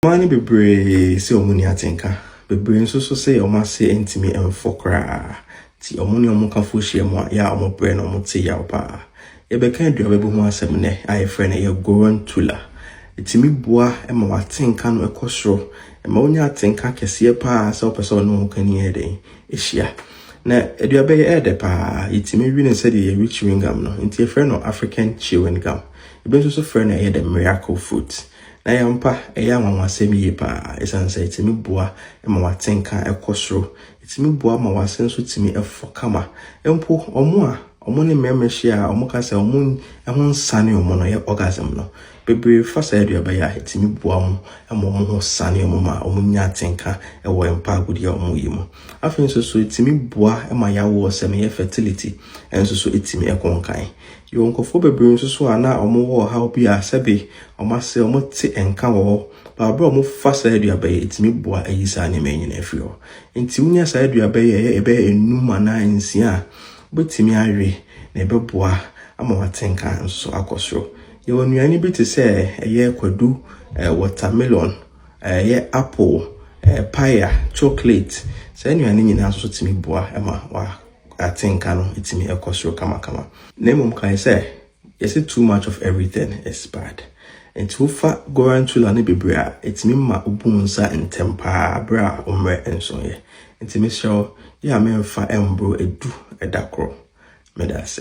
Mmaa no bebree se wɔn nni atenka. Bebree nso so se wɔn ase ntumi mfɔ koraa. Nti wɔn ne wɔn kafoɔ hyiam a, yɛ a wɔbrɛ na wɔte yaw paa. Yɛbɛka aduaba bi ho asɛm nnɛ a yɛfrɛ no yɛ Gorantula. Ɛtumi boa ma w'atenka no kɔ soro. Ɛma wonya atenka kɛseɛ paa sɛ wopɛ sɛ wo ne wo hokani yɛ dɛn? Hyia. Na aduaba yi ɛyɛ dɛ paa. Yɛtumi we no sɛdeɛ yɛwe chewing gum no. Nti yɛfrɛ no African chewing gum. Ebi nso so frɛ no ɛyɛ the miracle fruit. Na yɛ ampa, ɛyɛ anwanwasɛm yie pa ara ɛsiane sɛ ɛtumi boa ma w'atenka kɔ soro. Ɛtumi boa ma w'ase nso tumi fɔ kama. Mpo wɔn a wɔn ne mmarima hyia a wɔka sɛ wɔn ho nsane wɔn no, ɛyɛ orgasm no, bebree fa saa aduaba yi a ɛtumi boa wɔn ma wɔn ho sane wɔn ma wɔnya atenka wɔ mpa agodeɛ a wɔyɛ mu. Afei nso so ɛtumi boa ma yawoɔ sɛm, ɛyɛ fertility, nso so ɛtumi kɔ nkan. Yɛwɔ nkurɔfoɔ bebree nso so a na wɔwɔ ɔhaw bi a sɛbe wɔn ase wɔte nka wɔ hɔ, but berɛ a wɔfa saa aduaba yi, ɛtumi boa yi saa nneɛma yi nyinaa firi hɔ. Nti wonya saa aduaba yi a ɛyɛ ɛbɛyɛ enum anaa nsia a, wobɛtumi awe na ɛbɛboa ama wate nka nso so akɔ soro. Yɛwɔ nnuane bi te sɛ ɛyɛ kwadu, eh, watermelon, ɛyɛ apple, eh, paya, chocolate. Saa nnuane nyinaa nso so tumi boa ma wa. atenka no tumi kɔ soro kamakama. Na mmom kae sɛ, yɛse too much of everything is bad. Enti wofa gorantula no bebree a, etumi ma wobu wo nsa ntɛm paa bere a wo mmerɛ nsoeɛ. Enti mesrɛ wo, yɛ a memfa mmoro du da koro. Meda ase.